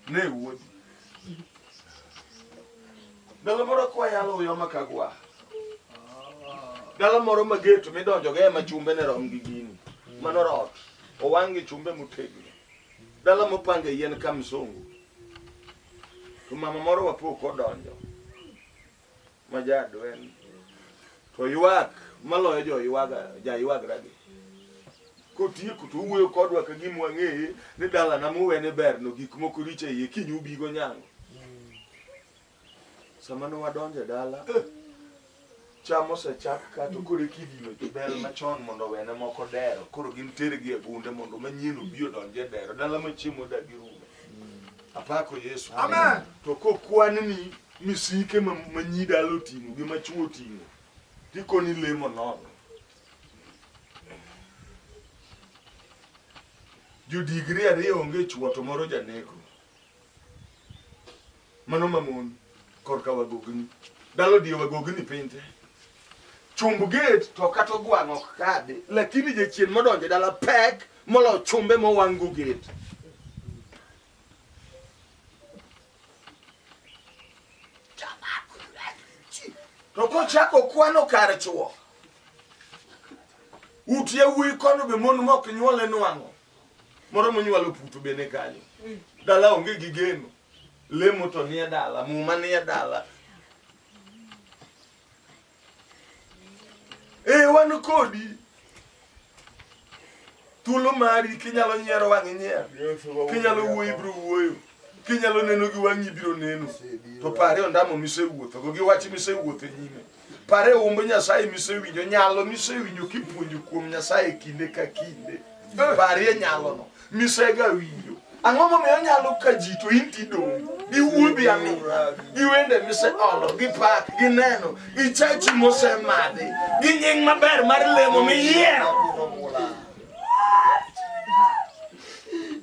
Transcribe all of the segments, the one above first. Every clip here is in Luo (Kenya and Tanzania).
Ne wuodi. Dala moro kwa yalo uyo makagwa. Dala moro ma geto midonjo ga ema chumbe ne rom gi gini. Mano rot. Owang' gi chumbe motegno. Dala mopange yien ka msungu. To mama moro wapo kodonjo. ma jadwen to ywak maloyo jo ywaga ja ywagra gi kotieko to owuoyo kodwa ka gima wang'eye ni dalana muwene berno gik moko richo iye kiny ubigo nyango sama ne wadonjo e dala cham osechak ka to koro ekidino jobel machon mondo wene moko dero koro gin tergi e gunde mondo manyien obi odonj e dero dala machiemo dagi rume Apako Yesu. Amen. To kokwan ni misike ma nyi dalo ting'o gi ma chuo ting'o. Tikoni lemo nono. Jodigri ariyo onge chuo to moro janeko. Mano mamon. korka wagogni dalo die wagogni piny te chumb gate to kata ogwang' ok kadhi lakini jachien modonjo dala pek molo chumbe mowang'go gate to kochako kwano kar chuo ut yawuoyi kono be mon mok nyuole nwang'o moro monywalo puto bene kanyo dala onge gi geno Lemo to nie dala, muma nie dala. Ee, wan kodi. Thuolo mari kinyalo nyiero wang' inyier. Kinyalo wuoyo ibiro wuoyo. Kinyalo neno gi wang'i ibiro neno. To pare ondamo misewuothogo gi wach misewuotho e nyime. Pare humb Nyasaye misewinjo, nyalo misewinjo kipuonjo kuom Nyasaye kinde ka kinde. Eh. Parie nyalono misega winjo. Ang'o momiyo nyalo ka ji to in tidong' gi wuodhi aming'a, gi wende miseolo, gi pak, gi neno, gi chachi mosemadhi, gi nying maber mar lemo miyiero.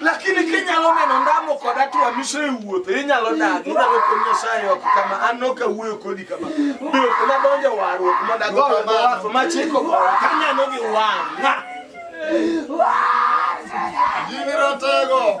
lakini kinyalo neno ndamo kod atwa mise e wuoth inyalo dag inyalo kod nyasaye oko kama an ok awuoyo kodi kama be ok nadonjo warruok mondo agowe mawafu machiko gowa kaneno gi wang'a Jini ratego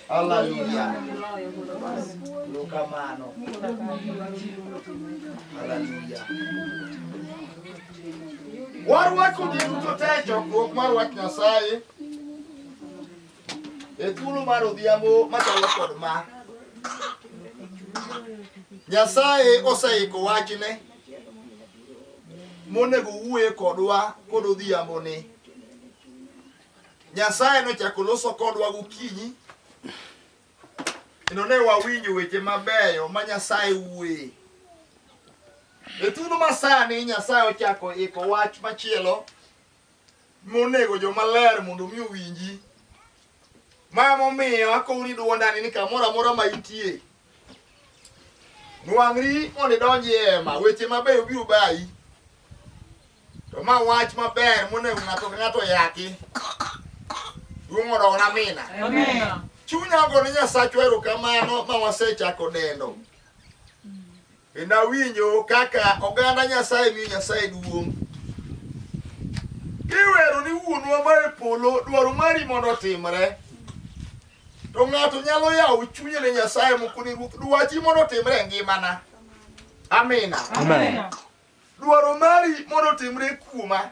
Haleluya. Lukamano. Haleluya. Warwako ji duto te e chokruok mar wach Nyasaye e thuolo mar odhiambo machalo kod ma. Nyasaye oseiko wachne monego wuoye kodwa kod odhiambo ni. Nyasaye nochako loso kodwa gokinyi kendo ne wawinjo weche mabeyo ma Nyasaye wuoye. E thuolo masani Nyasaye ochako iko wach machielo monego jomaler mondo omi owinji. Ma momiyo akowni dwondani ni kamoro amora ma itie nwang'ri mondo idonji e hema weche mabeyo biro bayi To ma wach maber monego ng'ato ka ng'ato oyaki. Duong' odogna mina. Chunya ogo ni Nyasachwa erokamano ma wasechako dendo. Kendo awinjo kaka oganda Nyasaye miyo Nyasaye duong'. Kiwero ni wuonwa ma e polo dwaro mari mondo otimre. To ng'ato nyalo yawo chunye ne Nyasaye moko ni Ruoth dwachi mondo otimre e ngimana. Amina. Amen. Dwaro mari mondo otimre kuoma.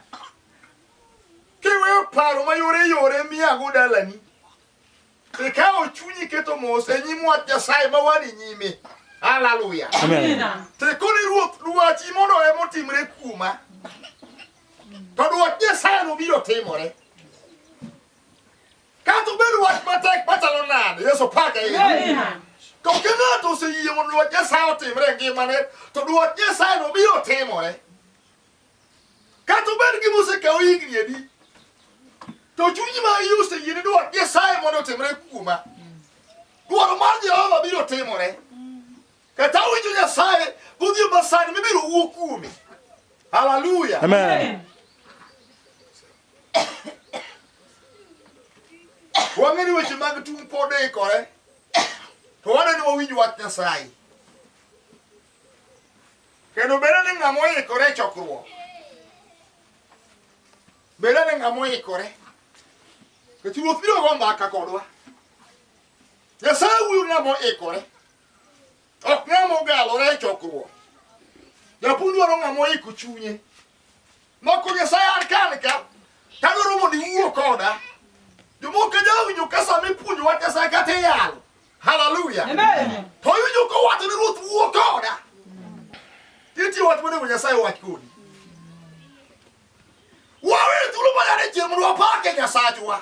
Kiweyo paro ma yore yore miyago dalani. Ikawo chunyi keto mos e nyim wach Nyasaye ma wan e nyime. Haleluya. Amen. Tekoni ruoth dwachi mondo ema otimre kuoma. To dwach Nyasaye no biro timore. Kata obed wach matek machalo nade, Yesu pake ahinya. To ka ng'ato oseyie mondo dwach Nyasaye otimre e ngimane, to dwach Nyasaye no biro timore. Kata obed gima osekawo higni adi, to chuny ma iye oseyie ni dwach Nyasaye mondo otimre kuoma. Dwaro mar Jehova biro timore. Kata winjo Nyasaye godhiambo masani mibiro wuo kuome. Haleluya. Amen. Wang'e ni weche mag tung' pod ikore, to waneno wawinj wach Nyasaye. Kendo bedo ni ng'ama oikore e chokruok, bedo ni ng'ama oikore, nikech ruoth biro go mbaka kodwa. Nyasaye wuoyo ng'ama oikore. Ok ng'ama ogalore e chokruok. Japuonj dwaro ng'ama oiko chunye. Mako Nyasaye an kan ka, tadwaro mondo iwuo koda. Jomoko jawinjo ka sama ipuonjo wach Nyasaye kata iyalo. Haleluya. To iwinjo ka wacho ni Ruoth wuo koda. Nitie wach monego Nyasaye wach kodi. Wawe thuolo ma nyare chieng' mondo wapake Nyasachwa.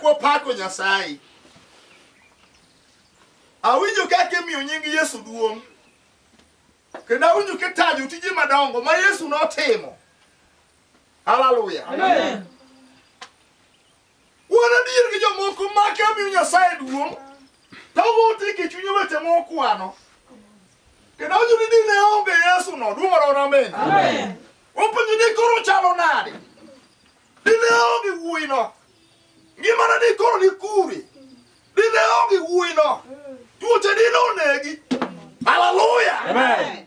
Kopako Nyasaye. Awinjo kaka imiyo nying Yesu duong'. Kendo awinjo kitajo tije madongo ma Yesu notimo. Hallelujah. Amen. Wuon adier gi jomoko make omiyo Nyasaye duong', to wuote gi chunye weche mokwano. Kendo wacho ni dine onge Yesu no, duong' oro amen. Wapenjo ni koro chalo nade? Dine onge wuoyi no, ngimana ni koro ni kure? Dine onge wuoyi no, tuoche dine onegi. Haleluya! Amen.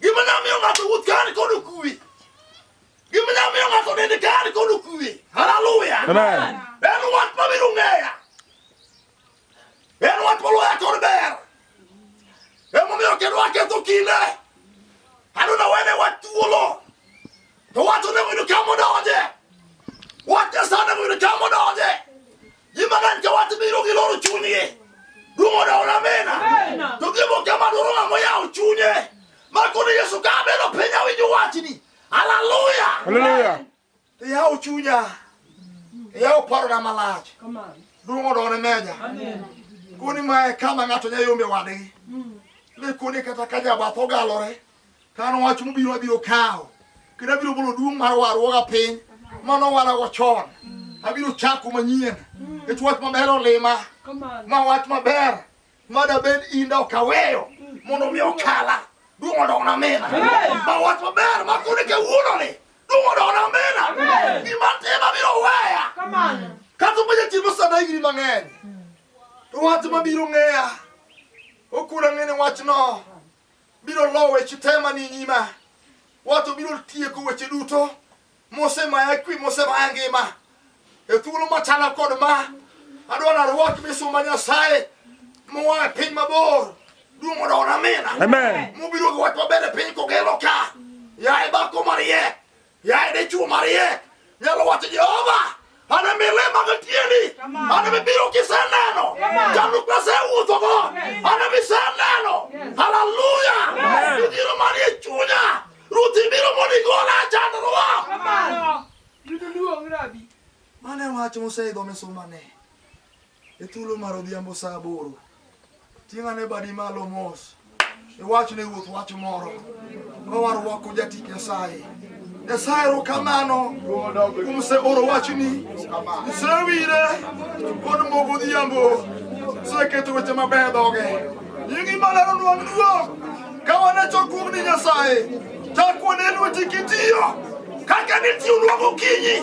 Gima nyalo miyo ng'ato wuoth ka an kod okuwe. Gima nyalo miyo ng'ato nende ka an kod okuwe. Haleluya. Amen. En wach ma biro ng'eya. En wach moloya kod ber. Emomiyo kendo aketho kinde. Adona wene wach thuolo. To wach onego yud kama odonje. Wach Nyasaye onego yud kama odonje. Jimagani ka wati biro gi loro chunye. Dumo da ona mena. To gibo kama doro na moya uchunye. Makoni Yesu ka beno penya winjo wachni. Hallelujah. Hallelujah. Ya uchunya. Ya uparo na malach. Come on. Dumo da ona mena. Amen. Kuni mae kama ngato nyayombe wadegi. Mm. Ni kuni kata kanya batho galore. Ka an wach mobiro abiro kawo kendo abiro bolo duong' mar warruoga piny mane owarago chon. Abiro chako manyien nikech wach maber olima ma wach maber ma dabed in da ok aweyo mondo mi okala duong' odogna mina ma wach maber ma kone kawuononi duong' odogna mina gima tim abiro weya kata obedo ni timo sana higni mang'eny to wach mabiro ng'eya ok unang'e ni wachno biro lowo weche te mani nyima wato biro tieko weche duto mosemaya kwi mosemaya ngima e thuolo machalo kod ma adwa narwak misumba nyasaye moa e piny mabor duong' odona mina mobiro gi wach maber e piny kogelo ka yaye dhako mariek Yaye dichwo mariek nyalo wacho Jehova ana milima gi tiendi ana mibiro kiseneno jalo kasewuthogo ana miseneno haleluya ibiro manie chunya ruth ibiro mondo igola chandruwa mane wach moseidho misumane E thuolo mar odhiambo saa aboro, ting' ane badi malo mos, iwach ne ruoth wach moro, ka warwako jati Nyasaye. Nyasaye erokamano kuom seoro wachni, isewire kod mogo odhiambo, iseketo weche mabeyo e dhoge. Nyingi malero nwang' duong' ka wan e chokruogni Nyasaye, chak wane lweti kitiyo kaka nitiyo nwang' okinyi.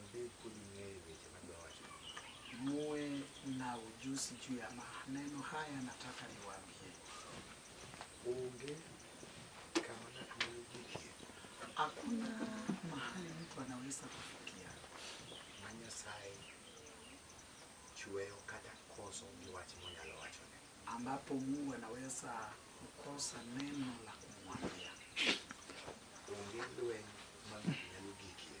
Mzee kodi ng'eyo weche ma dowacho. Muwe na ujuzi juu ya maneno haya, nataka niwaambie. Onge kama ng'ato nyalo jikie. Hakuna mahali mtu anaweza kufikia. Ma Nyasaye chweyo kata koso gi wach monyalo wachone. Ambapo Mungu anaweza kukosa neno la kumwambia. Onge lweny ma ng'ato nyalo gikie.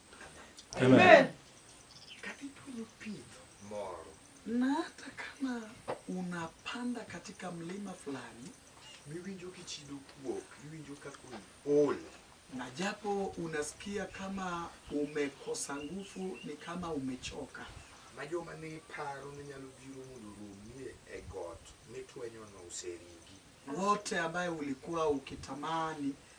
Amen. Kadidwaro pith moro na hata kama unapanda katika mlima fulani miwinjo kichido kuok, miwinjo kaka ol, na japo unasikia kama umekosa nguvu, ni kama umechoka ma joma ne iparo ni nyalo biro mondo oromie e got mitwenyono oseringi. wote ambaye ulikuwa ukitamani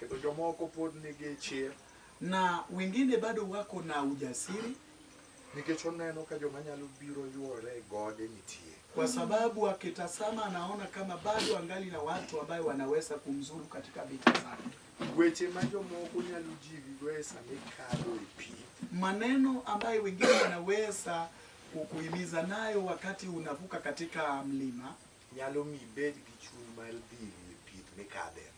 Kendo jomoko pod nigi chir na wengine bado wako na ujasiri, nikech oneno ka joma nyalo biro yuore e gode nitie, kwa sababu akitasama anaona kama bado angali na watu ambayo wanaweza kumzuru katika vita zake. Weche ma jomoko nyalo jiwigo e sama ikalo e pi, maneno ambayo wengine wanaweza kukuhimiza nayo wakati unavuka katika mlima nyalo mi ibed gi chuny mar dhiri e pith mikadhe.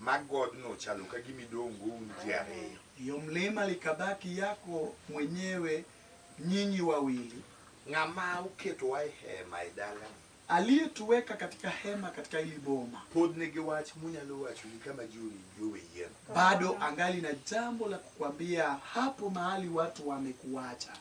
ma godno ochalo ka gima idongo un ji ariyo. Iyo mlima likabaki yako mwenyewe nyinyi wawili. Ng'ama oketowa e hema e dalani. Aliyetuweka katika hema katika hili boma. Pod nigi wach munyalo wacho ni kama ji owinji owe yien. Bado angali na jambo la kukwambia hapo mahali watu wamekuacha.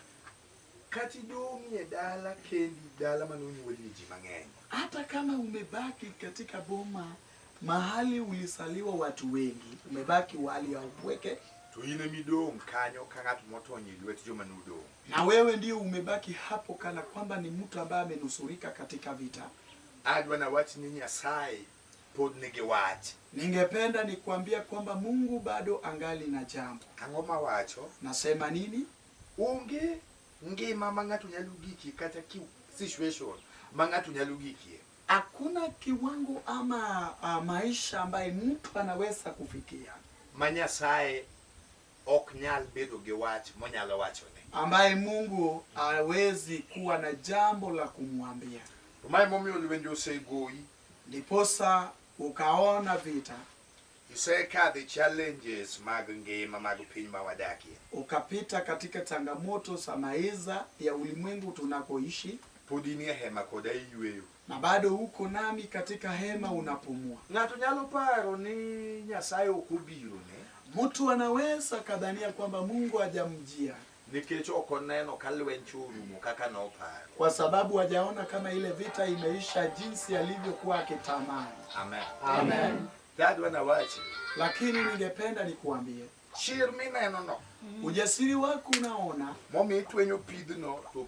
Kati dong'i e dala kendi, dala mane onyuolie ji mang'eny. Hata kama umebaki katika boma Mahali ulisaliwa watu wengi, umebaki wali ya upweke. To in emidong' kanyo ka ng'at motony e lwet joma nodong'. Na wewe ndio umebaki hapo kana kwamba ni mtu ambaye amenusurika katika vita. Adwa nawach ni Nyasaye pod nigi wach. Ningependa nikuambia kwamba Mungu bado angali na jambo. Ang'o mawacho? Nasema nini? Onge ngima ma ng'ato nyalo gikie kata ki situation ma ng'ato nyalo gikie. Hakuna kiwango ama a, ah, maisha ambaye mtu anaweza kufikia ma Nyasaye ok nyal bedo gi wach monyalo wachone, ambaye Mungu hawezi kuwa na jambo la kumwambia. Mae momiyo lwenje osegoyi, ndiposa ukaona vita Isekadhe challenges mag ngima mag piny ma wadakie. Ukapita katika changamoto za maisha ya ulimwengu tunakoishi. Pod inie hema koda iyweyo. Na bado uko nami katika hema unapumua. Ng'ato nyalo paro ni Nyasaye ok obirone. Mtu anaweza kadhania kwamba Mungu hajamjia. nikech ok oneno ka lweny cho orumo kaka noparo, kwa sababu hajaona kama ile vita imeisha jinsi alivyokuwa akitamani. amen Amen. dadwa na wachi Lakini ningependa nikuambie, chir minenono ujasiri wako unaona momi itwenyo pidhno to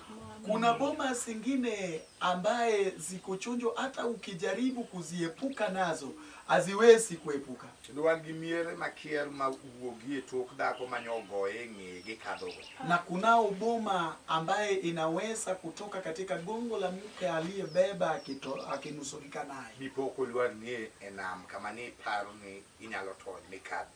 Kuna boma zingine ambaye ziko chonjo, hata ukijaribu kuziepuka nazo haziwezi kuepuka. Kendo wan gi miere makier ma wuogi e tok dhako manyo ogoye ng'eye gi kadhogo. Na kunao boma ambaye inaweza kutoka katika gongo la mke aliyebeba akito- akinusurika naye. Dipo kolwar ng'eye e nam kama ni iparo ni inyalo tony mikadhi.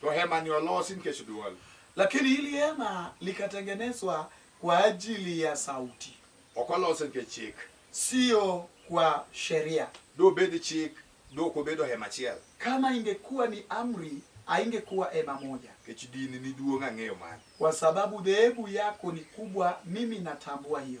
To hema ni olosi nikech dwol. Lakini hili hema likatengenezwa kwa ajili ya sauti. Ok olose nikech chik. Sio kwa sheria. Dobed chik, dok obedo hema achiel. Kama ingekuwa ni amri, haingekuwa hema moja. Nikech dini ni duong' ang'eyo mano. Kwa sababu dhehebu yako ni kubwa, mimi natambua hiyo.